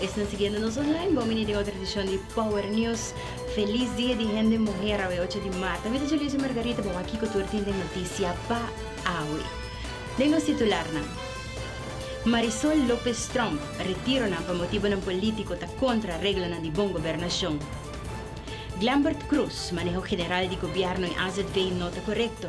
Esnan siguiendo nos online bo mini den otro edicion di Power News. Feliz dia di hende muher awe ocho di marta. Mi ta Julissa Margarita bo wak kico tur tin den noticia pa awe. Den nos titularnan. Marisol Lopez Tromp retironan pa motibonan politico ta contra reglanan di bon gobernacion. Glambert Cruz maneho general di gobierno y azv no ta corecto.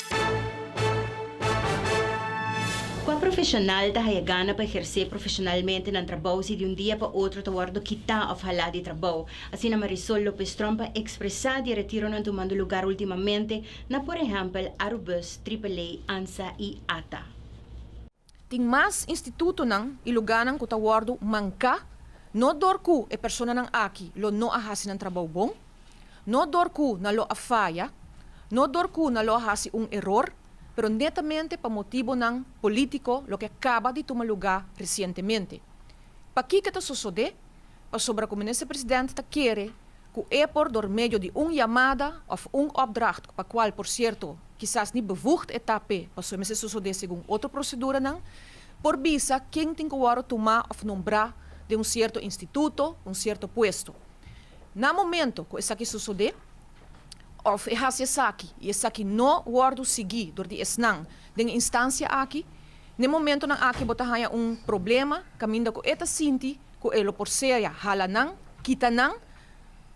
Kua profeshonal ta haya gana pa ehersé profeshonalmente nan trabou si di un dia pa otro ta wòrdu kitá òf halá di trabou? Asina Marisol Lopez Tromp a ekspresá di e retironan tumando lugar últimamente na por ehèmpel Arubus, Triple A, Ansa i Ata. Tin mas institutonan i lugánan ku ta wòrdu manká, no dor ku e personanan aki lo no a hasi nan trabou bon, no dor ku nan lo a faya, no dor ku nan lo a hasi un eror, pero netamente pa motibonan polítiko loke a kaba di tuma lugá resientemente. Pakiko ta sosodé? Pasobra ku Minister President ta kere ku e por dor medio di un yamada òf un opdracht, pa kual por sierto kisas ni bevoegd e ta p'e paso e mester sosodé segun otro proseduranan, por bisa ken tin ku wòru tumá òf nombrá den un sierto instituto, un sierto puesto. Na momento ku esaki sosodé, òf e hasi esaki i esaki no wòrdu sigui dor di esnan den e instansia aki, n'e momentonan aki bo ta haña un problema kaminda ku e ta sinti Ku e lo por sea hala nan, kita nan,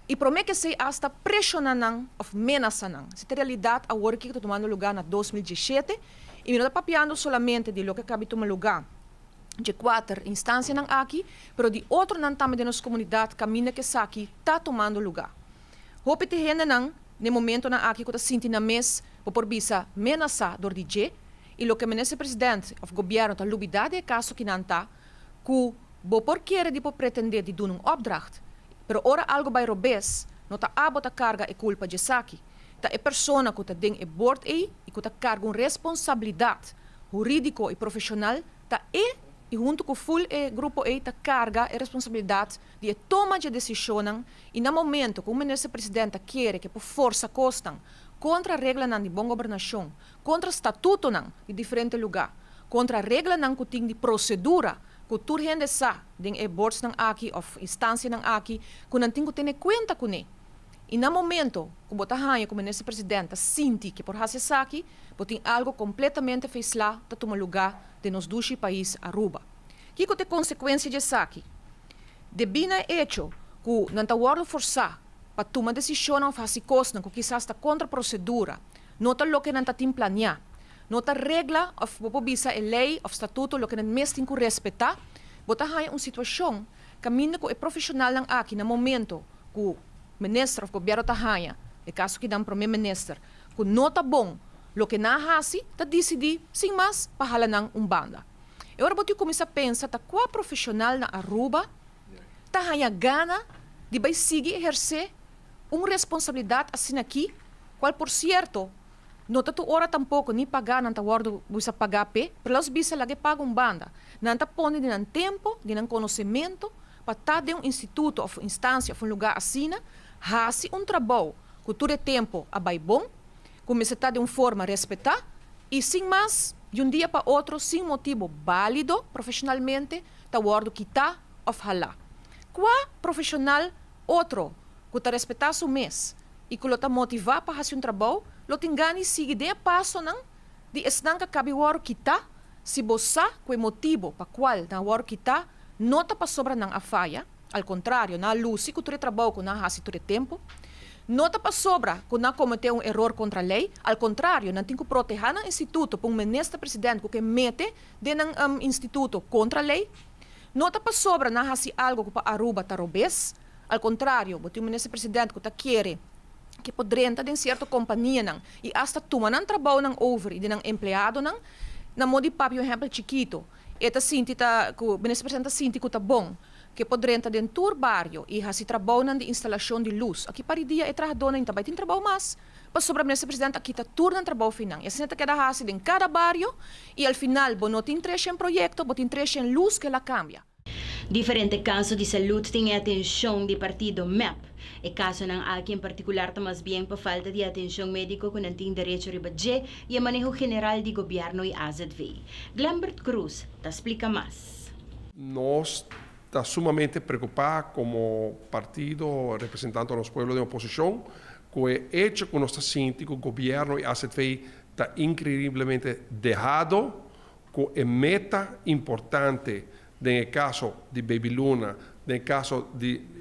i promé kesei asta preshoná nan òf menasá nan. Esei ta realidat awor aki ku ta tumando lugá na dos mil diesshete, i mi no ta papiando solamente di loke a kabi tuma lugá dje kuater instansianan aki, pero di otronan tambe den nos komunidat kaminda ku esaki ta tumando lugá. Hopi t'e hendenan n'e momentonan aki ku ta sinti nan mes, bo por bisa, menasá dor di dje, i loke Minister Presidente òf Gobièrnu ta lubidá di e kaso ki nan ta, ku bo por kere di por pretendé di duna un opdracht, pero ora algu bai robes, no ta abo ta karga e kulpa djesaki, ta e persona ku ta den e bord ei i ku ta karga un responsabilidat hurídiko i profeshonal, ta e, i huntu ku ful e grupo ei, ta karga e responsabilidat di e toma dje desishonnan i na momentu ku un Minister President ta kere ke por forsa kosnan kontra reglanan di bon gobernashon, Kontra statutonan di diferente lugá, kontra reglanan ku tin di prosedura ku tur hende sa den e bordsnan aki òf instansianan aki ku nan tin ku tene kuenta kuné. I na momento ku bo ta haña ku Minister President ta sinti ke por hasi esaki, bo tin algu kompletamente feislá ta tuma lugá den nos dushi pais Aruba. Kiko ta e konsekuensia di esaki? Debí na e echo ku nan ta wòrdu forsá pa tuma desishonnan òf hasi kosnan ku kisas ta kontra prosedura, Nota loke nan ta tin planiá. Nota regla òf bo por bisa e lei òf statuto loke nan mes tin ku respetá. Bo ta haña un situashon kaminda ku e profeshonalnan aki na momento ku minister òf gobièrnu ta haña, e kaso kidan promé minister, ku no ta bon loke nan a hasi, ta disidí sin mas pa hala nan un banda. E ora bo tin kuminsá pensa ta kua profeshonal na Aruba ta haña gana di bai sigui ehersé? Un responsabilidat asin'akí, kual por sierto no ta tur ora tampoko ni pagá nan ta wòrdu bisa pagá p'e, pero lòs bisa laga e paga un banda, nan ta pone di nan tempu, di nan konosementu pa ta den un instituto òf instansia òf un lugá asina, hasi un trabou ku tur e tempu a bai bon, ku mester ta den un forma respetá i sin mas di un dia pa otro sin motibu bálido profeshonalmente ta wòrdu kitá òf halá. Kua profeshonal Otro, ku ta respetá su mes i ku lo ta motivá pa hasi un trabou, lo tin gani sigui den e pasonan di esnan ku a kabi wòrdu kitá si bo sa ku e motibu pa kual nan a wòrdu kitá no ta pasobra nan a faya. Al kontrario, nan a lusi ku tur e trabou ku nan a hasi tur e tempu. No ta pasobra ku nan a kometé un eror kontra lei. Al kontrario, nan tin ku protehá nan instituto pa un Minister Presidente ku ke mete den nan instituto kontra lei. No ta pasobra nan hasi algo ku pa Aruba ta robes. Al kontrario, bo tin un minister presidente ku ta kere ke por drenta den sierto kompanianan i asta tuma nan trabounan over di nan empleadonan. Na mo di papia un ehèmpel chikito, e ta sinti ta ku minister presidente ta sinti ku ta bon ke por drenta den tur bario i hasi trabounan di instalashon di lus. Aki paridia e trahadónan ta bai tin trabou mas. Pasobra Minister President a kita tur nan trabou finan. I asina ta keda hasi den kada bario i al final bo no tin treshi en proyekto, bo tin treshi en lus ku el a kambia. Diferente kaso di salud tin e atenshon di partido mep. E kasonan aki en partikular ta mas bien pa falta di atenshon médiko ku nan tin derecho riba dje i e maneho general di gobièrnu i azv. Glembert Cruz ta splika mas. Nos ta sumamente preokupá komo partido representando nos pueblo den oposishon Cu e hecho cu nos ta sinti cu gobierno y azv ta increiblemente dehado cu e meta importante den e caso di Baby Luna, den e caso di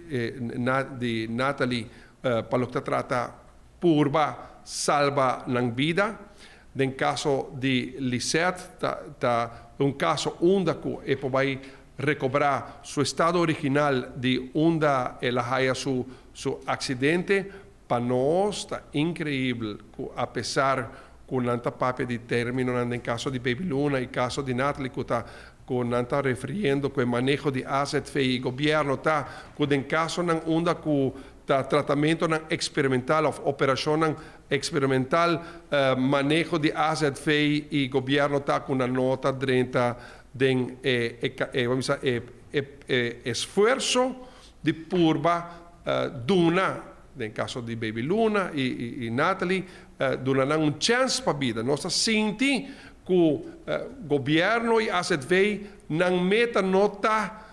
di Nathalie pa loke ta trata purba salba nan bida, den caso di Lisette ta ta un caso unda cu e por bay recobra su estado original di unda el a haya su Su accidente pa nos ta increibel cu a pesar cu nan ta papia di terminonan den caso di Baby Luna y caso di Natalie cu ta cu nan ta refiriendo cu e maneho di azv y gobierno ta cu den casonan unda cu ta tratamentonan experimental of operacionnan experimental maneho di azv y gobierno ta cu nan no ta drenta den e esfuerzo Di purba duna, den caso di Baby Luna y Natalie, duna nan un chance pa bida. Nos ta sinti cu gobierno y AZV nan meta no ta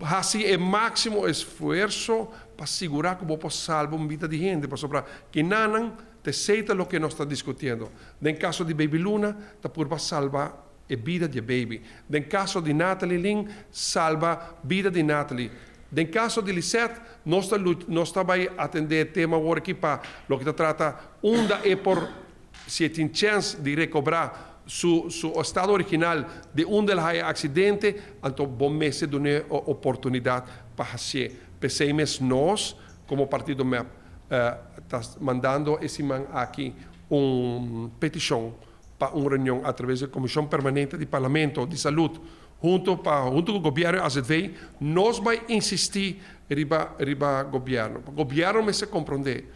haci e maximo esfuerzo pa sigura cu bo por salba un bida di hende. Pasobra kinanan, te sey ta loke nos ta discutiendo. Den caso di Baby Luna ta purba salba. e bida di e baby. Den kaso di Natalie Lin, salba bida di Natalie. Den kaso di Lisette, nos ta lucha, nos ta bai atendé e tema awor aki pa loke ta trata unda e por, si e tin chèns di rekobrá su su estado original di unda el haya e aksidente, anto bo mester dun'é e oportunidat pa hasié. P'esei mes nos, komo Partido mep, ta mandando e siman aki un petishon. pa un reunion a traves di e Comishon Permanente di Parlamento di Salud hunto pa hunto cu Gobierno di AZV, nos bay insisti riba riba Gobierno pa Gobierno mester comprende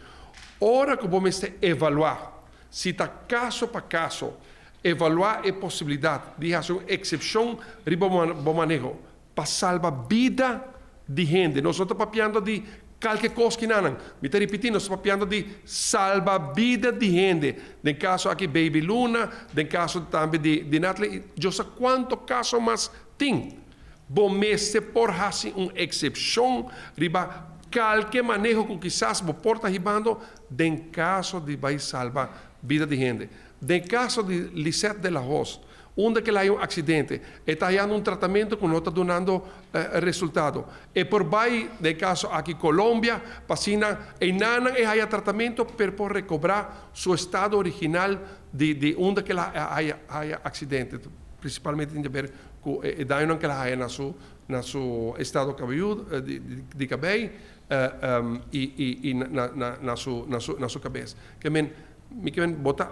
ora cu bo mester evalua si ta caso pa caso evalua e posibilidad di haci un excepcion riba bo maneho Pa salba bida di hende. Nos no ta papiando di kalke kos ki nanan. Mi ta ripití, nos ta papiando di salba bida di hende. Den kaso aki Baby Luna, den kaso tambe di Nathalie i Djos sa kuantu kaso mas tin. Bo mester por hasi un eksepshon riba kalke maneho ku kisas bo por ta hibando den kaso di bai salba bida di hende. Den kaso di Lisette de la Hoz, unda kel hay un aksidente, e ta hayando un tratamentu ku no ta dunando resultado. E por bay den kaso aki Colombia pa asina e nannan e haya tratamentu pero por rekobrá su estado original di unda kel haya aksidente, prinsipalmente tin di haber ku e dañonan kel a haya na su estado cabelludo, di kabei, i na su kabes. Ke men Mi kier bo ta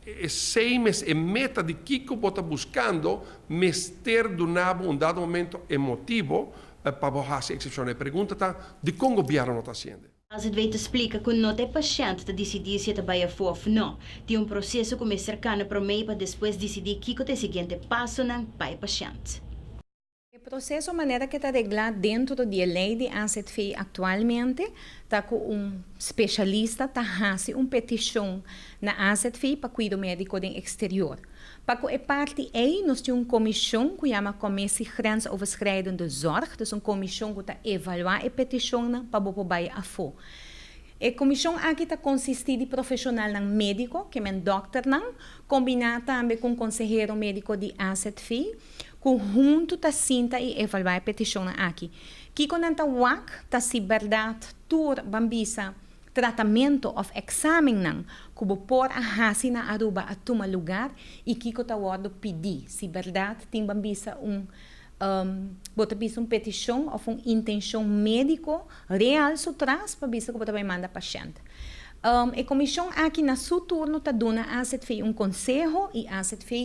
esey mes e meta di kiko bo ta buskando mester duna bo un dado momento e motibo pa bo hasi eksepshon. E pregunta ta dikon gobièrnu no ta hasiende? Azedvei ta splika ku not e pashènt ta disidí si e ta bai afó òf no. Tin un proseso ku mester kana promé pa despues disidí kiko ta e siguiente pasonan pa e pashènt. E proseso manera ke ta reglá dentro di e lei di AZV aktualmente ta ku un spesialista ta hasi un petishon na AZV pa kuido médiko den eksterior. Pa ku e parti ei nos tin un komishon ku yama Commissie Grensoverschrijdende Zorg, dus un komishon ku ta evaluá e petishonnan pa bo por bai afó. E komishon aki ta konsistí di profeshonalnan médiko, ke men dòkternan, kombiná tambe ku un konsehero médiko di AZV, ku huntu ta sinta i evaluá e petishonnan aki. Kiko nan ta wak ta si bèrdat tur ban bisa tratamentu òf èksamennan ku bo por a hasi na Aruba a tuma lugar i kiko ta wòrdu pidi, si bèrdat tin ban bisa un bo ta bisa un petishon òf un intenshon médiko real su tras pa bisa ku bo ta bai manda pashènt. E komishon aki na su turno ta duna AZVI un konseho i AZVI.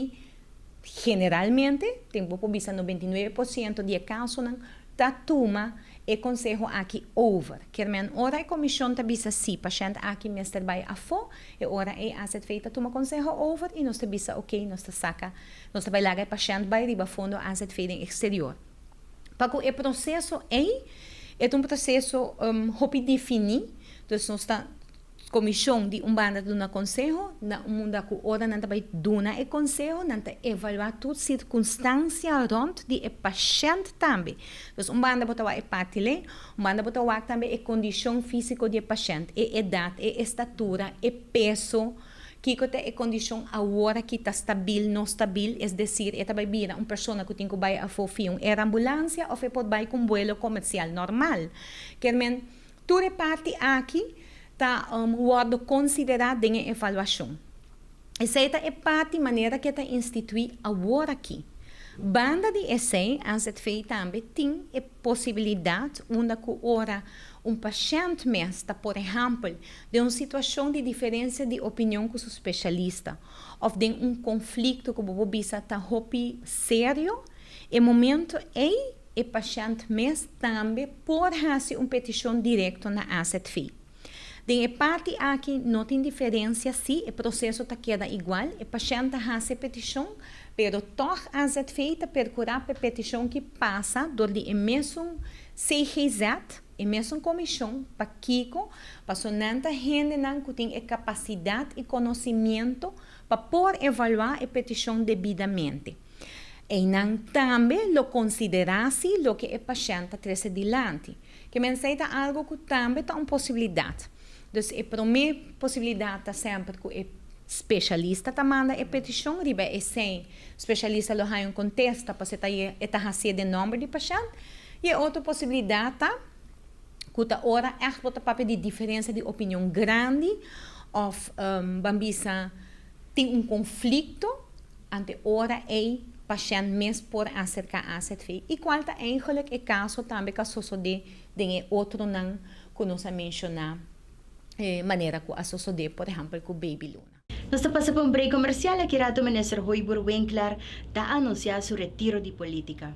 Generalmente, tin bo por bisa nobenta i nuebe por siento di e kasonan ta tuma e konseho aki over. Kermen, Ora e komishon ta bisa sí, pashènt aki mester bai afó, e ora ei AZV ta tuma konseho over i nos ta bisa okey, nos ta saka, nos ta bai laga e pashènt bai riba fondo AZV den eksterior. Pa ku e proseso ei, e ta un proseso hopi definí, dus nos ta. Comishon di un banda ta duna conseho, na un munda cu ora nan ta bay duna e conseho, nan ta evalua tur circunstancia rond di e pashent tambe. Entonces un banda bo ta wak e parti len, un banda bo ta wak tambe e condicion fisico di e pashent, e edad, e estatura, e peso, kico ta e condicion awor aki, ta stabil, no stabil, es decir, e ta bay bira un persona cu tin cu bay afo via un aerambulancia of e por bay cu un vuelo comercial normal. Kermen, Tur e parti aki ta wòrdu konsiderá den e evaluashon. Esei ta e parti manera ke ta instituí aworakí. Banda di esei, NZV tambe tin e posibilidat unda ku ora un pashènt mes ta por ehèmpel den un situashon di diferensia di opinion ku su speshalista òf den un konflikto ku bo por bisa ta hopi serio, e momentu ei E pashènt mes tambe por hasi un petishon direkto na AZV. Den e parti aki no tin diferensia sí e proseso ta keda igual, e pashènt ta hasi e petishon, pero tòg AZV ta perkurá pa e petishon ki pasa dor di e mesun CGZ, e mesun komishon, pakiko, paso nan ta hendenan ku tin e kapasidat i konosimiento pa por evaluá e petishon debidamente. Einan tambe lo konsiderá si loke e pashènt ta trese dilanti. Ke mensei ta algu ku tambe ta un posibilidat. Dus e promé posibilidat ta semper ku e speshalista ta manda e petishon riba esei speshalista lo haña un kontesta pasobra ta ye e ta hasié den nòmber di pashènt. I e otro posibilidat ta ku ta ora ègt bo ta papia di diferensia di opinion grandi òf, ban bisa, Tin un konflikto ante ora ei pashènt mes por aserká azv, i kual ta eigenlik e kaso tambe ku a sosodé den e otronan ku nos a menshoná manera ku a sosodé por ehèmpel ku Baby Luna. Nos ta pasa pa un brei komersial aki rato Minister Hoybuur Winkler ta anunsiá su retiro di polítika.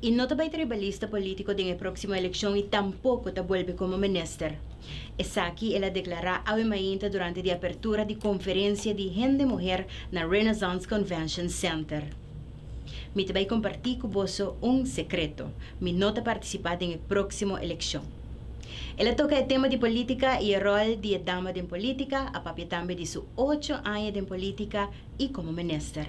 I no ta bai tribalista polítiko den e próksimo elekshon i tampoko ta bolbe komo minister. Esaki el a deklará awe mainta durante di apertura di konferensia di Hende Muher na Renaissance Convention Center. Mi ta bai kompartí ku boso un sekreto, mi no ta partisipá den e próksimo elekshon. El a toka e tema di polítika i e ròl di e dama den polítika, a papia tambe di su ocho aña den polítika, i komo minister.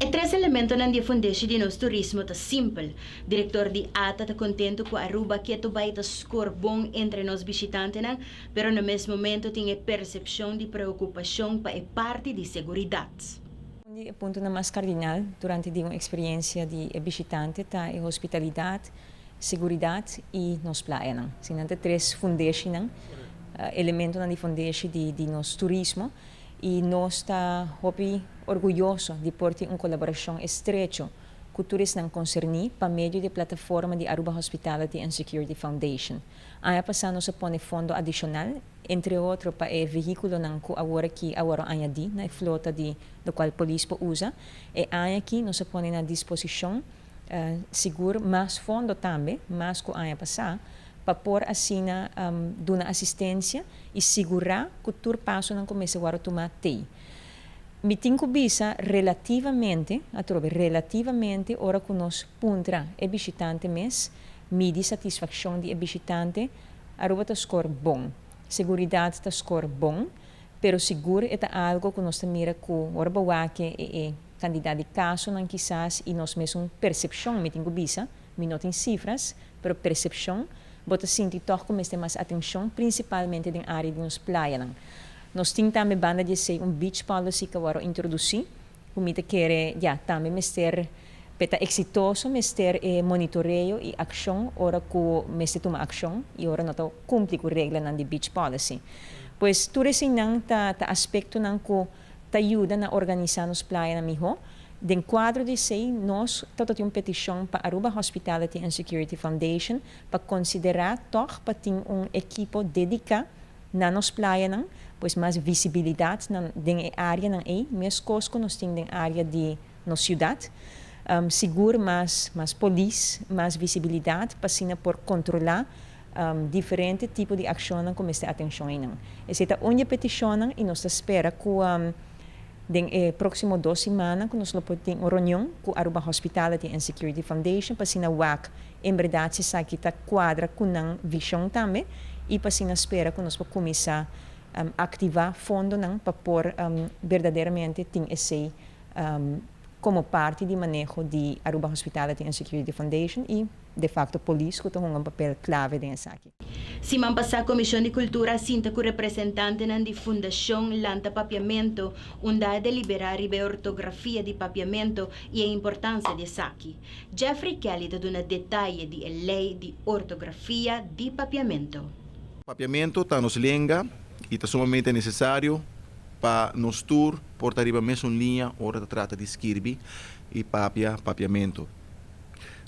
E tres elementonan di e fundeshi di nos turismo ta simpel. Direktor di ata ta kontentu ku Aruba ketu bai ta skor bon entre nos bishitantenan, pero na mes momento tin e persepshon di preokupashon pa e parti di seguridat. Un di e puntonan mas kardinal durante di un eksperiensia di e bishitante ta e hospitalidat, seguridat i nos playanan. Si nan ta tres fundeshinan, elementonan di fundeshi di nos turismo. y nos ta hopi orguyoso di por tin un colaboracion estrecho cu tur esnan concerni pa medio di e plataforma di Aruba Hospitality and Security Foundation. Aña pasa nos a pone fondo adicional, entre otro pa e vehiculonan cu awor aki a wor añadi na e flota di locual Polis por usa. E aña aki nos a pone na disposicion. sigur mas fondo tambe, mas ku aña pasá, pa por asina duna asistensia i sigurá ku tur pasonan ku mester wòrdu tumá t'ei. Mi tin ku bisa relativamente, atrobe, relativamente ora ku nos puntra e bishitante mes, midi satisfakshon di e bishitante, Aruba ta skor bon. Seguridat ta skor bon. Pero sigur e ta algo cu nos ta mira cu ora bawak'e e e cantidad di casonan kisas y nos mes un percepcion, mi tin cu bisa, mi no tin cifras, pero percepcion, bo ta sinti toch cu mester mas atencion principalmente den area di nos playanan. Nos tin tambe banda di esey un beach policy cu awor a introduci, Cu mi ta kere, ya, tambe mester p'e ta exitoso mester e monitoreo y accion ora cu mester tuma accion y ora no ta cumpli cu reglanan di Beach Policy. Pues tur eseinan ta ta aspectonan cu ta yuda na organisa nos playanan miho. Den cuadro di esey nos tabatin un peticion pa Aruba Hospitality and Security Foundation pa considera tog pa tin un equipo dedica Na nos playanan, pues mas visibilidat na den e areanan ei, meskos ku nos tin den area di nos siudat. Sigur mas mas polis, mas visibilidat pa asina por kontrolá diferente tipo di akshonnan ku mester atenshon einan. Esei ta un di e petishonnan i nos ta spera ku den e próksimo dos simannan ku nos lo por tin un ronion ku Aruba Hospitality and Security Foundation pa asina wak En berdad si esaki ta cuadra cu nan vision tambe y pa asina spera cu nos por cuminsa activa fondonan pa por berdaderamente tin esey como parti di maneho di Aruba Hospitality and Security Foundation y de facto Police cu ta hunga un papel clave den esaki. Siman pasá Comishon di Cultura a sinta cu representantenan di Fundacion Lanta Papiamento unda a deliberá riba e ortografia di papiamento y e importancia di esaki. Jeffrey Kelly ta duna detaye di e ley di ortografia di papiamento. Papiamento ta nos lenga y ta sumamente necesario pa nos tur por ta riba mesun liña ora ta trata di skirbi y papia papiamento.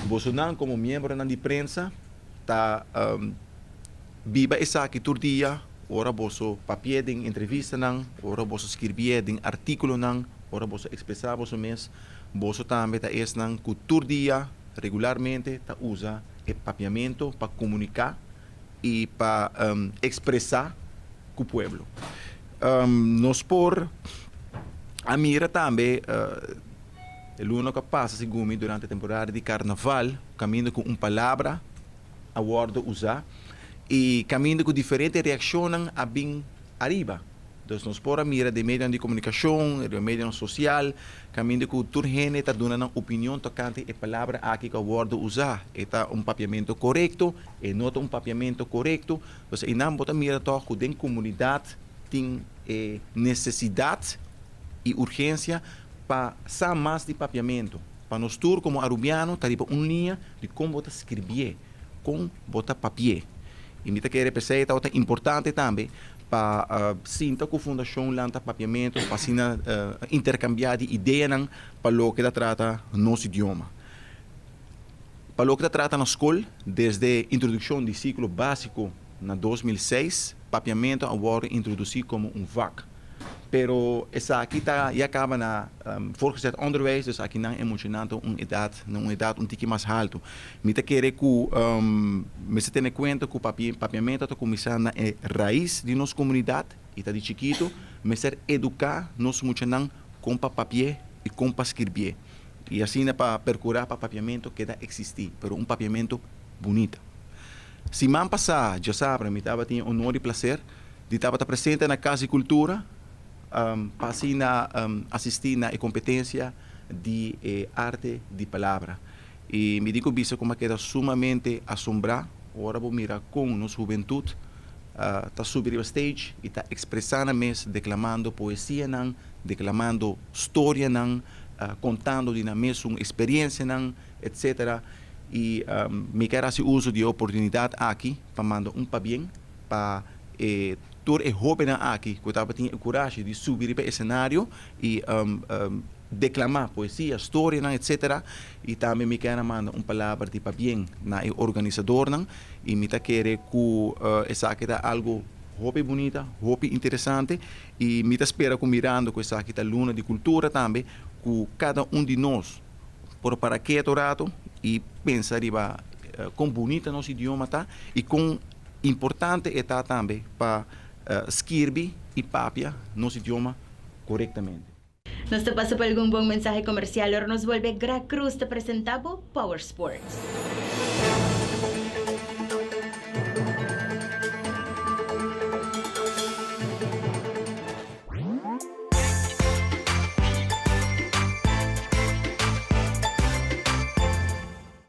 Bosonan como miembronan di prensa ta biba esaki tur dia, ora boso papi'e den entrevistanan, ora boso skirbi'e den artíkulonan, ora boso ekspresá boso mes, boso tambe ta esnan ku tur dia, regularmente, ta usa e papiamentu pa komuniká i pa ekspresá ku pueblo. Nos por a mira tambe. E luna kua pasa sigunmi durante e temporada di karnaval kaminda ku un palabra a wòrdu usá i kaminda ku diferente reakshonnan a bin ariba. Entonces nos por a mira den medionan di komunikashon, den medionan sosial, kaminda ku tur hende ta duna nan opinion tokante e palabra aki ku a wòrdu usá, e ta un papiamentu korekto, e no ta un papiamentu korekto. Entonces einan bo ta mira tòg ku den komunidat tin e nesesidat. y urgencia pa sa mas di papiamento, pa nos tur como Arubiano ta riba un liña di con bo ta scribie, con bo ta papie. Y mi ta kere p'esey e tabata importante tambe pa sinta cu Fundacionnan ta papiamento pa asina intercambia di ideanan pa loke ta trata nos idioma. Pa loke ta trata na scol, desde introduccion di ciclo basico na dos mil seis, papiamento a worde introduci como un vak. pero esaki ta ya kaba na voorgezet onderwijs, dus akinan e muchanan ta un edat, na un edat un tiki mas haltu. Mi ta kere ku mester tene kuenta ku papia, papiamento ta kuminsá na e rais di nos komunidat i ta di chikitu, mester eduká nos muchanan kon pa papi'é i kon pa skirbié i asina pa perkurá pa papiamento keda eksistí, pero un papiamento bunita. Siman pasá, djasabra, mi tabatin e onor i plaser Di tabata presente na Casa di Cultura pa asina asisti na e competencia di e Arte di Palabra. Y mi tin cu bisa cu mi a keda sumamente asombrá ora bo mira con nos hubentud ta subi riba stage y ta expresa nan mes declamando poesianan, declamando storianan, contando di nan mesun experiencianan, etc. Y mi a keda haci uso di e oportunidad aki pa manda un pabien. pa e tur e hobennan aki ku tabatin e kurashi di subi riba e esenario i deklamá poesia, storianan etsetera. I tambe mi kèn a manda un palabra di pabien na e organisadornan i mi ta kere ku esaki ta algu hopi bunita, hopi interesante i mi ta spera ku mirando ku esaki ta Luna di Kultura tambe ku kada un di nos por para ketu ratu i pensa riba kon bunita nos idioma ta i kon Importante e ta tambe pa skirbi i papia nos idioma korektamente. Nos ta pasa pa algun bon mensahe komersial ora nos bolbe Gra Cruz ta presenta bo Power Sports.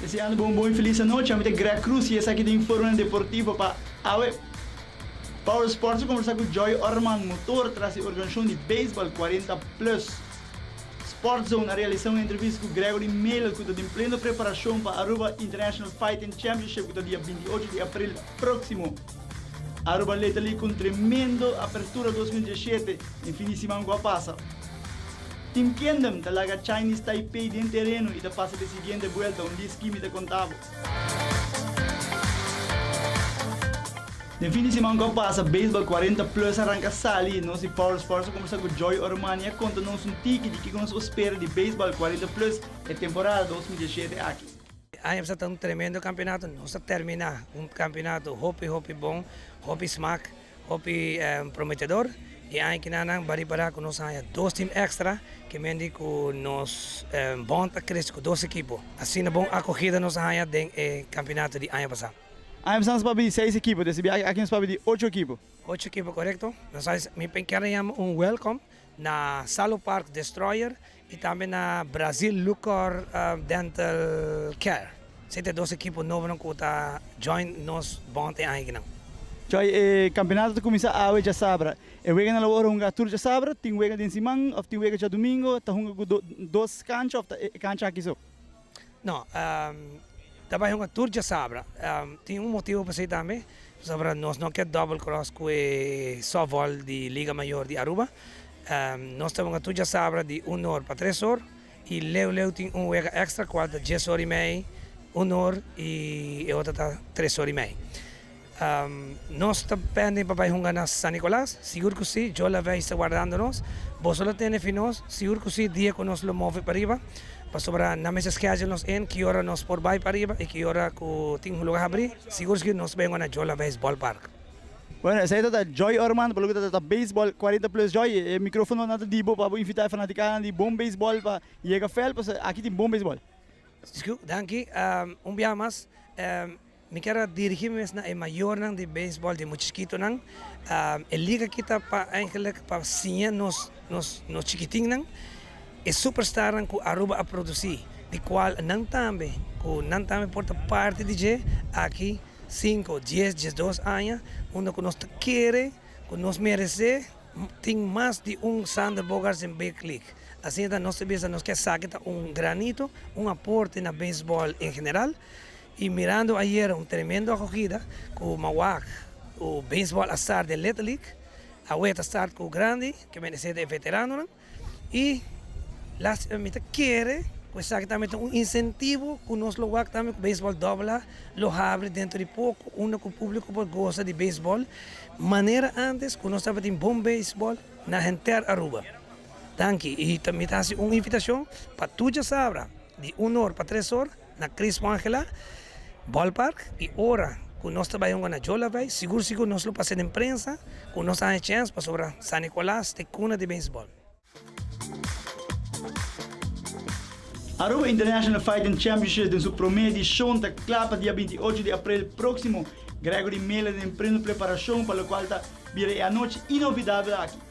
Deseando bo un bon y feliz anochi. Ami ta Greg Cruz y esaki ta Informe Deportivo pa awe. Power Sports a conversa cu Joy Orman Motor tras e organisacion di Baseball Cuarenta Plus. Sport Zone a realisa un entrevista cu Gregory Meel cu ta den pleno preparacion pa Aruba International Fighting Championship cu ta dia binti ocho di april proximo. Aruba leta li con tremendo apertura dos mil diecisiete den fin di siman cu a pasa. Team Kingdom ta laga Chinese Taipei den tereno y ta pasa pa e siguiente buelta un dis Kimi ta conta bo. Den fin di siman cu a pasa Baseball cuarenta Plus a ranca sali y nos di Power Sports a conversa cu Joy Oromani y a conta nos un tiki di kico nos por spera di Baseball cuarenta Plus e temporada dos mil diecisiete aki. E aña bisa ta un tremendo kampionato. Nos ta terminá un kampionato hopi hopi bon, hopi smak, hopi prometedor. E aña kina nan ba riba ra ku nos a haña dos tim èkstra, ke men di ku nos bònt a krese ku dos ekipo. Asina bon akogida nos a haña den e kampionato di aña pasá. Aña pasá nos papia di seis ekipo, te sibi aki nos papia di ocho ekipo. Ocho ekipo, korekto. Nos a hasi, mi penker a yama un wèlkom. Na Salo Park Destroyer y tambe na Brazil Lucor Dental Care. Esey ta e dos ekipo nobonan cu ta join nos bond e aña aki nan. Djoi, e campeonato ta cuminsa awe djasabra. E weganan lo bo ora hunga tur djasabra, tin wega den siman of tin wega djadumingo, ta hunga cu dos cancha of ta e cancha aki so? No, ta bai hunga tur djasabra. Tin un motibu pasey tambe, pasobra nos no ke double cross cu e softball di Liga Mayor di Aruba. Nos ta hunga tur djasabra di un or pa tres or y leu leu tin un wega extra cual ta dies or y mei, un or y e otro ta tres or y mei. Nos ta pende pa bai hunga na San Nicolas? Sigur cu si, Jola Vey sta guardando nos. Boso lo tene fi nos? Sigur cu si, dia cu nos lo move pa riba, pasobra nan mester schedule nos in ki ora nos por bai pa riba y ki ora cu tin un lugar habri. Sigur cu si, nos bai hunga na Jola Vey Ballpark. Bueno, esey ta ta Joy Orman, pa loke ta ta Baseball Cuarenta Plus. Joy, e microfononan ta di bo pa bo invita e fanaticanan di Bon Baseball pa yega fel, pasobra aki tin bon baseball. Danki, un biaha mas. Mi kier a dirigí mes na e mayornan di beisbòl di mucheskitonan. E liga akí ta pa eigenlik pa siña nos nos nos chikitinnan e superstarnan ku Aruba a produsí, di kual nan tambe ku nan tambe por ta parti di dje aki sinku, dies, diesdos aña unda ku nos ta kere ku nos meresé tin mas di un Xander Bogaerts den Big League. Asina ta nos ta bisa nos ke esaki ta un granito, un aporte na beisbòl en general. Y mirando ayer un tremendo acogida cu Mawaak cu Baseball a start den Little League, awe ta start cu grandi que mester ser den veteranonan y lastima mi ta kere cu esaki tambe ta un incentivo cu nos lo wak tambe cu Baseball AA lo habri dentro di poco unda cu publico por goza di Baseball manera antes cu nos tabatin bon Baseball na henter Aruba. Danki y tambe mi ta haci un invitacion pa tur diasabra di un or pa tres or. na Chris Wangela Ballpark y ora cu nos ta bay honga na Jolavei sigur sigur nos lo pasa den prensa cu nos a haña chance pasobra San Nicolas ta e cuna di baseball. Aruba International Fighting Championships den su prome edicion ta cla pa dia binti ocho di aprel proximo. Gregory Mele den preno preparacion pa locual ta bira e anochi inolvidabel aki.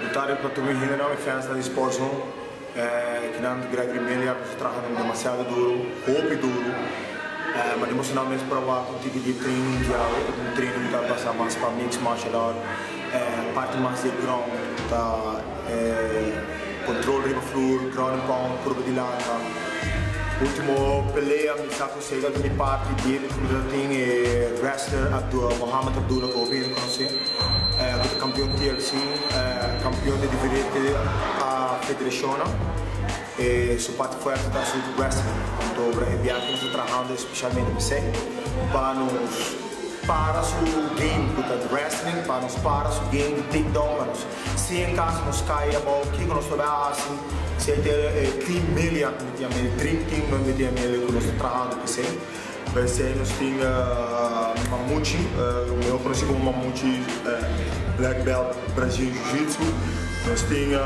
Deputado Patrun i General e Fans nan di Sportzo ki nan Gregory Mele a bisa traha nan demasiado duro, hopi duro, ma di mostranan mes por a wak un tipo di training mundial, un training ku ta basa mas pa mixed martial art, parti mas di e ground ta e control riba flur, ground and pound, purba di lanta, ultimo pelea mi sa ku Sedert mi parti di e midfielder tin e wrestler Abdul Mohamed Abdullah ku hopi rekonosé ku ta kampion TLC, kampion di diferente federashonnan. E su parti fuerte ta asuntu wrestling, pantobra e biaha ku nos ta trahando espeshalmente bisei pa nos para su game ku ta wrestling, pa nos para su game di takedown, Si en caso nos cay abao kico nos lo bay a haci si e ta e team mel ya cu mi tin amel dream team nos mi tin amel cu nos ta trahando cu esey pa esey nos tin mamuchi mihor conoci como mamuchi black belt Brazil jiu jitsu nos tin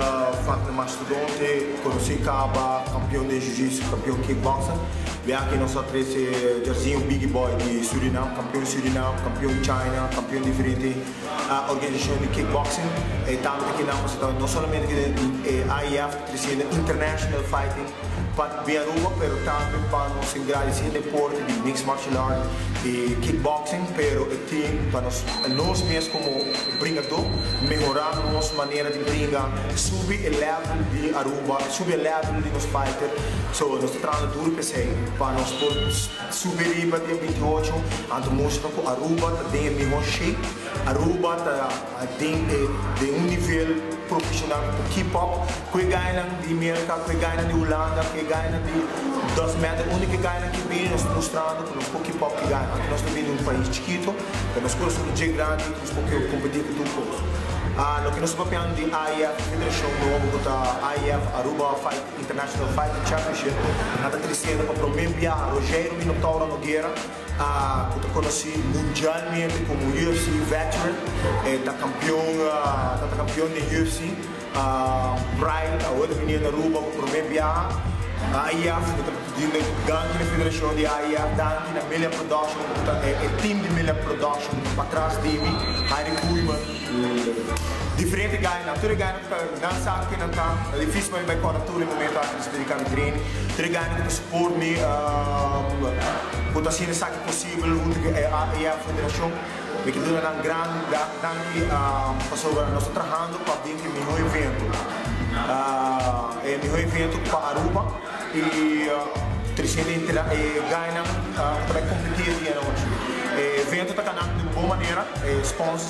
Fatner Mastodonte conoci caba campeon den jiu jitsu campeon kick boxer biaque nos a trece Jarzinho biggie boy di Suriname campeon Suriname campeon China campeon diferente. a organisacion di kickboxing e tanto di kinan pues no solamente tin e di IAAF ta triciendo international fighting pa di Aruba pero tambe pa nos engradici e deporte di mixed martial art y kickboxing pero e tin pa nos nos mes como bringador mehora nos manera di bringa subi e level di Aruba subi e level di nos fighter so nos ta trabahando duro pa esey pa nos por Subi riba den bintiocho, anto mustra ku Aruba ta den e mihó shape. Aruba ta den e den un nivel profeshonal ku ta keep up ku e gayanan di Merka, ku e gayanan di Hulanda, ku e gayanan di dos mèter. Unda ku e gayanan ke bini nos mustrando ku nos por keep up ku e gayanan. Anto nos ta bini di un pais chikito, pero nos kosnan ta dje grandi, nos por kompetí ku tur kos. Loke nos ta papiando di IF, federashon nobo ku ta IF Aruba Fighting. International Fighting Championship, nan ta triciendo pa prome biaha Rogério Minotauro Noguera, cu ta conoci mundialmente como UFC Veteran, e ta campeon, ta ta campeon den UFC, Brian awor ta bini Aruba pa prome biaha, AIF, mi ta dinde danki na federacion di AIF, danki na Millard Production cu ta e e team di Millard Production cu ta patras di mi, Harry Koeman, cu diferente guy nan, tur e guy nan. Nan sa cu nan ta difici pa mi bay cora tur e momento antes di predica mi trene. Tur e gana cu ta support mi cu ta hacina esaki posible hunto cu AAA Federacion. Mi ta duna nan gran danki pasobra nos ta trahando pa bin cu e miho evento, e miho evento pa Aruba y trescientos y treinta e guy nan cu ta bay competi e dia anochi. E evento ta cana un bon manera, e sponsors.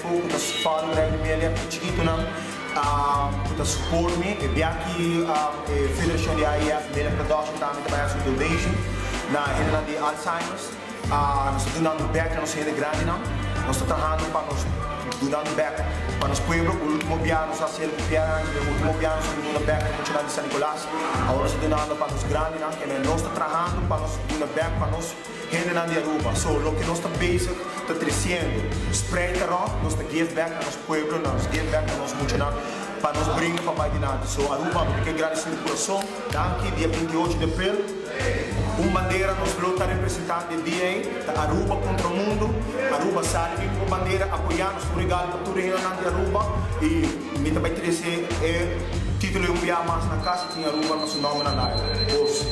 Ku ta span rèk di media ku chikitunan ku ta suport mi. E biachi e Federashon di AIF Media Production ta hasi ta bai haci donation na hendenan di Alzheimer's. Nos ta dunando bek na nos hende grandinan. Nos ta trahando pa nos dunando bek pa nos pueblo. Ultimo bia nos a hasiel ku Pierre Angel, e ultimo bia nos a bin duna bek pa muchanan di San Nicolas. Awor nos ta dunando pa nos grandinan, kende nos ta trahando pa nos duna bek pa nos. Hendenan di Aruba, so loke nos ta bezig ta treciendo. Spreid ta rond, nos ta give back na nos pueblo, nos give back na nos muchanan pa nos bringa pa bai dilanti. So Aruba mi ta ke gradeci di curason. Danki, dia binti y ocho di april, un bandera nos lo ta representando e dia ey, ta Aruba contra mundo, Aruba sali bin cu e bandera apoya nos, un regalo pa tur e hendenan di Aruba y mi ta bay trece e titulo di un bia mas na cas y tin Aruba na su nomber na layo. Goz.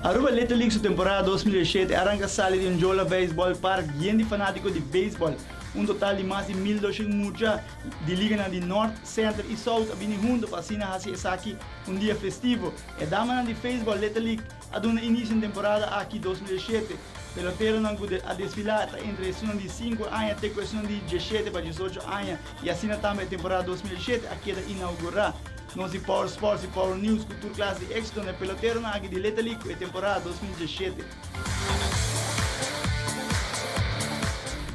Aruba Little League su temporada dos mil dieshete a ranka sali di un Jola Beisbòl Park bien di fanátiko di beisbòl. Un total di mas di mil doshen mucha di liganan di Nòrt, Senter i Sout a bini huntu pa asina hasi esaki un dia festivo. E damanan di Feisbòl Little League, A duna inicio na temporada aki dos mil diecisiete. Peloteronan cu a desfila ta entre esunnan di cinco aña te cu esunnan di diecisiete pa diesocho aña y asina tambe e temporada dos mil diecisiete a keda inaugura. Nos di Power Sports y Power News cu tur clase di exitonan e peloteronan aki di leta li cu e temporada dos mil diecisiete.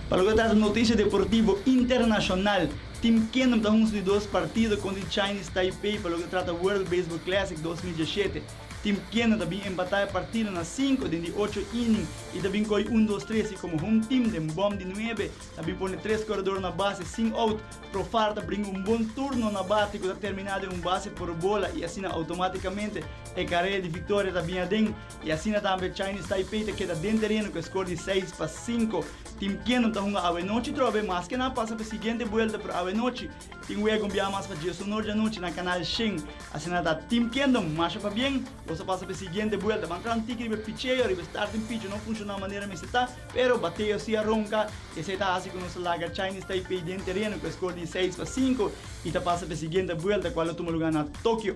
Pa loke ta trata noticia deportivo internacional, Team Kingdom ta hunza di dos partido contra di Chinese Taipei pa loke ta trata World Baseball Classic dos mil diecisiete. Tim Kena ta bin empatá e partido na sinku den di ocho inning i ta bin kohi un dos tres i komo home team den bòm di nuebe ta bin pone tres korador na base sin out, Profar ta bringa un bon turno na bate ku ta terminá den un base por bola i asina outomátikamente e karel di viktoria ta bin aden i asina tambe Chinese Taipei ta keda den tereno ku e skor di seis pa sinku. Tim Kena ta hunga awenochi trobe maske nan pasa pa e siguiente buelta pero awenochi Tin wea cu bia mas pa Dios honor dianochi na canal shin. Asina ta Team Kingdom, masha pabien. Bo sa pasa pa e siguiente buelta. Ban clan tiki riba e picheo, riba e starting pitch no funciona manera mester ta, pero bateo si a ronca y esey ta haci cu nos ta laga Chinese Taipei den tereno cu e score di seis pa cinco y ta pasa pa e siguiente buelta cual lo tuma lugar na Tokio.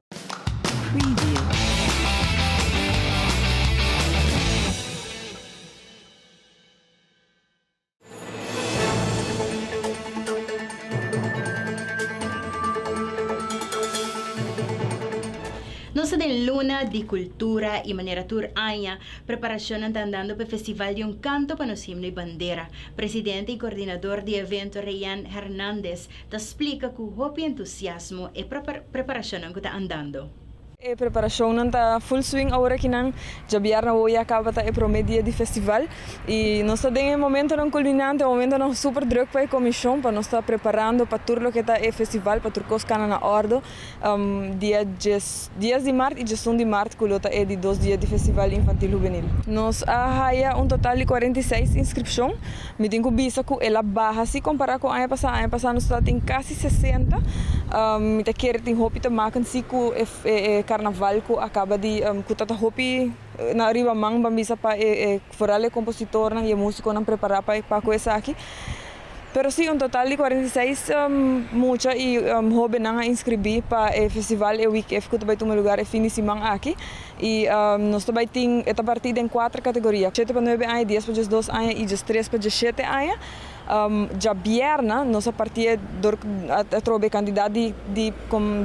Nos ta den luna di kultura i manera tur aña, preparashonnan ta andando pa e Festival di un Kanto pa nos Himno i Bandera. Presidente i koordinador di e evento Reyan Hernandez ta splika ku hopi entusiasmo e preparashonnan ku ta andando. E preparashonnan ta full swing awor aki nan djabièrnè awor ya kaba ta e promé dia di festival i nos ta den e momentonan kulminante, momentonan super drùk pa e komishon pa nos ta preparando pa tur loke ta e festival pa tur kos kana na òrdu. dia dies di mart i djesun di mart ku lo ta e di dos dia di festival infantil hubenil. Nos a haya un total di kuarenta i seis inskripshon. Mi tin ku bisa ku el a baha si kompará ku aña pasá. Aña pasá nos tabata tin kasi sesenta. Mi ta kere tin hopi ta makan si ku e karnaval ku a kaba di ku ta ta hopi na ariba man ban bisa pa foral e kompositornan i e musikonan prepará pa ku esaki. Pero si, un total di cuarenta y seis mucha y hobennan a inscribí pa e festival e week ef cu ta bay tuma lugar e fin di siman aki. Y nos ta bay tin, e ta partí den cuater categoria, shete pa nuebe aña, dies pa djes dos aña y djes tres pa djes shete aña. Djabièrna nos a partié dor a trobe e cantidad di di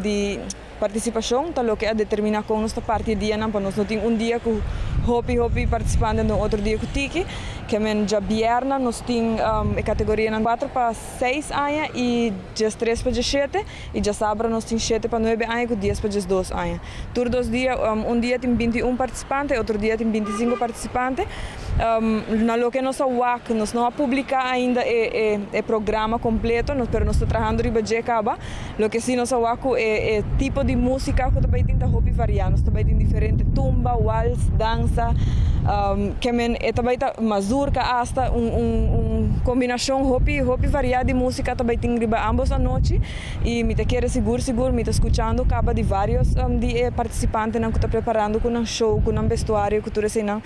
di. Participacion ta loke a determina con nos ta parti e dianan pa nos no tin un dia cu hopi hopi participantenan den otro dia cu tiki kemen djabièrna nos tin e categorianan cuatro pa seis aña y djestres pa djeshete y djasabra nos tin shete pa nuebe aña cu dies pa djesdos aña tur dos dia un dia tin binti y un participante otro dia tin binti y cinco participante na loke nos a wak nos no a publica ainda e programa completo pero nos ta trahando riba dje caba. Loke si nos a wak ku e e tipo di músika ku ta bai tin ta hopi variá. Nos ta bai tin diferente tumba, wals, dansa, ke men e ta bai ta mazurka asta un un un kombinashon hopi hopi variá di músika ta bai tin riba ámbos anochi i mi ta kere sigur sigur mi ta skuchando kaba di vários di e partisipantenan ku ta preparando ku nan show ku nan bestuario ku tur eseinan.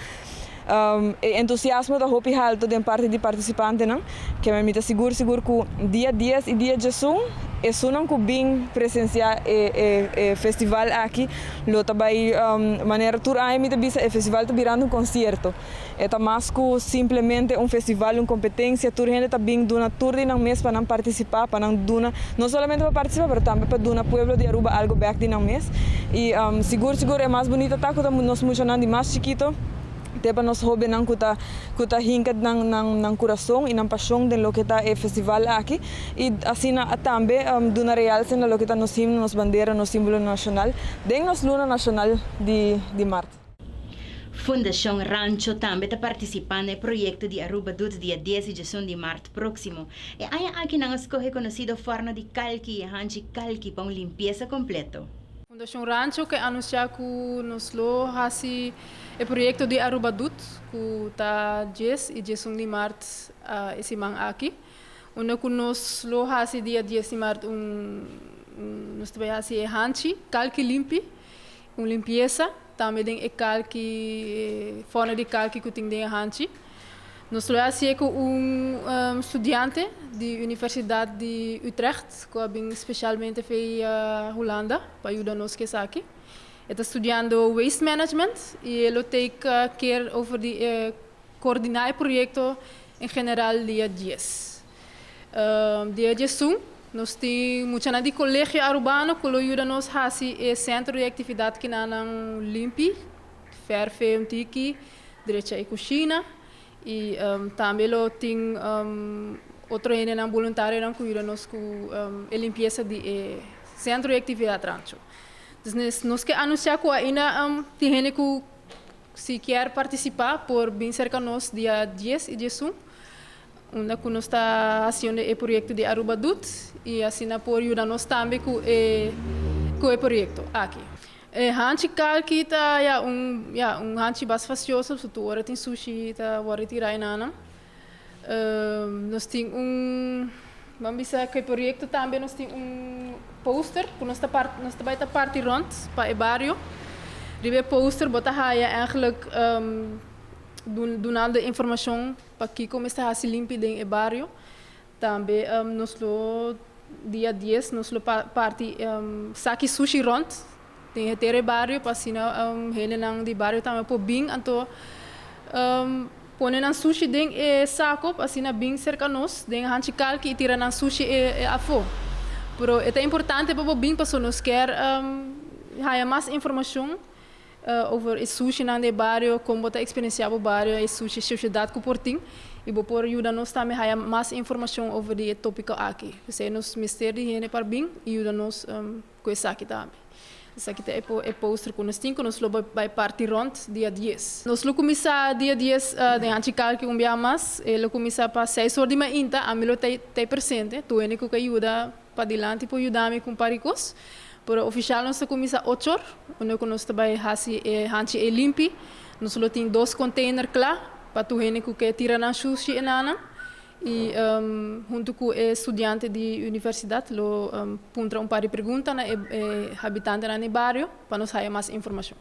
E entusiasmo ta hopi haltu den parti di partisipantenan, kema mi ta sigur sigur ku dia dies i dia djesun esunnan ku bin presensiá e festival aki lo ta bai manera tur aña mi ta bisa e festival ta birando un konsierto. E ta mas ku simplemente un festival, un kompetensia, tur hende ta bin duna tur di nan mes pa nan partisipá, pa nan duna, no solamente pa partisipá pero tambe pa duna pueblo di Aruba algu bèk di nan mes i sigur sigur e mas bunita ta ku ta nos muchanan di mas chikito, te pa nos hóbennan ku ta ku ta hinka nan nan nan kurason i nan pashon den loke ta e festival aki i asina tambe duna realce na loke ta nos himno, nos bandera, nos símbolonan nashonal den nos luna nashonal di di mart. Fundashon Rancho tambe ta partisipá na e proyekto di Aruba Doet dia dies di djesun di mart próksimo. E aña aki nan a skohe konosido fòrno di kalki i e hanchi kalki pa un limpiesa kompleto. Fundacion Rancho ke anunciá ku nos lo hasi e proyekto di Aruba Dut ku ta Djes i Djesun di Mart e siman aki, unda ku nos lo hasi dia Djes di Mart un nos ta bai hasi e hanchi, kalki limpi, un limpiesa. Tambe den e kalki, e fòrna di kalki ku tin den e hanchi. Nos lo a hasié ku un studiante di Universidat di Utrecht ku a bin spesialmente via Hulanda pa yuda nos ku esaki. E ta studiando Waste Management i e lo take care over di e koordiná e proyekto en general dia dies. Dia di esun nos tin muchanan di Colegio Arubano cu lo yuda nos haci e centro di actividad kinanan limpi, ferfe un tiki, drecha e cushina y tambe lo tin otro hendenan boluntarionan cu yuda nos cu e limpieza di e centro di actividad rancho. Entonces nos ke anuncia cu ainda tin hende cu si kier participa por bin serka nos dia dies y di esun Unda cu nos ta haciendo e proyecto di Aruba Doet y asina por yuda nos tambe cu e cu e proyecto aki. E hanchi calki ta ya un ya un hanchi bas facioso so tur ora tin sushi ta word retira e nana. Nos tin un ban bisa cu e proyecto tambe nos tin un poster cu nos ta part nos ta bay ta parti rond pa e bario. Riba e poster bo ta haya eigenlijk dunando informacion Pakico mester haci limpi den e bario? Tambe nos lo dia dies nos lo parti saki sushi rond den henter e bario pa asina hendenan di bario tambe por bin anto pone nan sushi den e saco pa asina bin cerca nos den hanchi kalki y tira nan sushi afo. Pero e ta importante pa bo bin paso nos kier haya mas informacion. Over e sushinan den e bario, kon bo ta eksperensiá bo bario, e sushi shoshedat ku por tin. I bo por yuda nos tambe haya mas informashon over di e tópiko aki. P'esei nos mester di hende pa bin i yuda nos ku esaki tambe. Esaki ta e póster ku nos tin ku nos lo bai parti rònt dia dies. Nos lo kuminsá dia dies den Hachikalki un biaha mas. E lo kuminsá pa seis or di mainta. Ami lo ta ei presente. Tur hende ku ke yuda Padilanti por yuda mi cumpa ricos. Pero oficial nos ta cuminsa ochor, unda cu nos ta bay haci e hanchi ey limpi. Nos lo tin dos container cla pa tur hende cu ke tira nan shushi enanan. Y hunto cu e studiante di universidad lo puntra un par di pregunta na e habitantenan di bario pa nos haya mas informacion.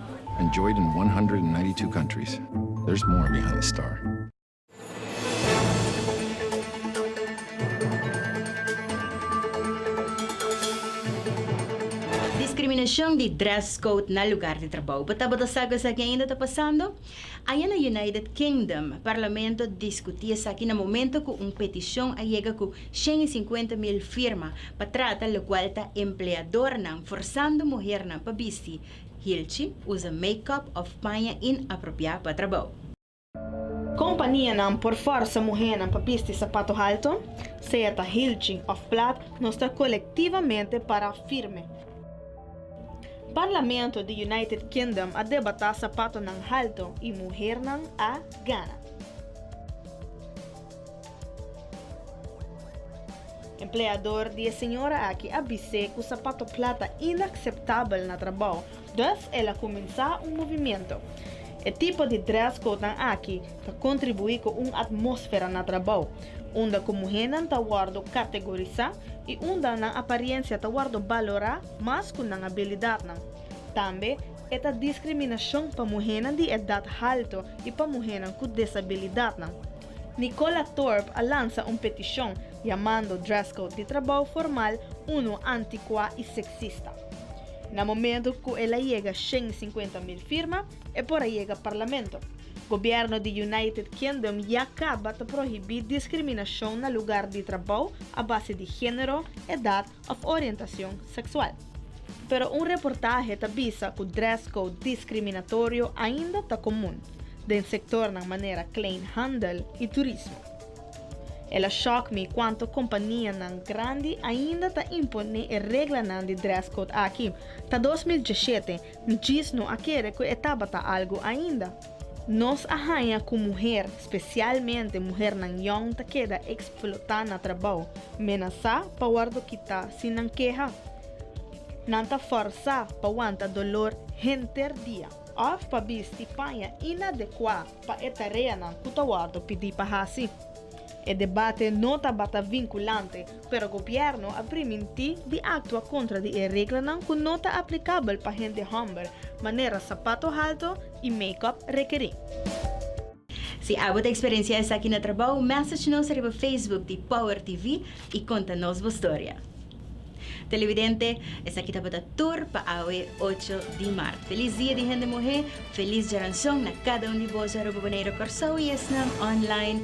Enjoyed in 192 countries, there's more behind the star. Discriminacion di dress code na lugar di trabou. Bo tabata sa cu esaki ainda ta pasando? Aña na United Kingdom, Parlamento discuti esaki na momento cu un peticion a yega cu cien y cincuenta mil firma pa trata locual ta empleadornan forzando muhernan pa bisti Hilchi, Usa make-up of paña inapropiá pa trabou. Kompanianan por forsa muhénan pa bisti sapato halto, sea ta hilchi of plat, nos ta kolektivamente para firme. Parlamento di United Kingdom a debatá sapatonan halto i muhernan a gana. Empleador di e señora aki a bis'é ku sapato plat ta inakseptabel na trabou, dus el a kuminsá un movimiento. E tipo di dress codenan aki ta kontribuí ku un atmósfera na trabou unda ku muhénan ta wòrdu kategorisá i unda nan apariensia ta wòrdu balorá mas ku nan abilidatnan. Tambe e ta diskriminashon pa muhénan di edat haltu i pa muhénan ku desabilidatnan. Nicola Thorp a lansa un petishon yamando dress code di trabou formal unu anticuá i seksista. Na momentu ku el a yega shen i sinkuenta mil firma, e por a yega parlamento. Gobièrnu di United Kingdom ya kaba ta prohibí diskriminashon na lugar di trabou a base di género, edat òf orientacion sexual. Pero un reportahe ta bisa cu dress code discriminatorio ainda ta comun den sectornan manera kleinhandel y turismo. El a shock mi cuanto companianan grandi ainda ta impone e reglanan di dress code aki. Ta dos mil dieschete, mi djis no a kere cu e tabata algo ainda. Nos a haña cu muher, specialmente muhernan yong ta keda explota na trabao, menasa pa wordo kita si nan keha. Nan ta forsa pa wanta dolor henter dia of pa bisti paña inadecua pa e tareanan cu ta wordo pidi pa haci. E debate no tabata vinculante, pero gobierno a priminti di actua contra di e reglanan cu no ta aplicabel pa hende homber, manera sapato halto, y make-up rekerí. Si abo ta experiencia esaki na trabao, message nos riba Facebook di Power TV y conta nos bo storia. Televidente, esaki tabata tur pa awe ocho di maart. Feliz Dia di Hende Muhé, feliz Djaranson na cada un di boso aruba, Boneiru, Corsou y esnan online.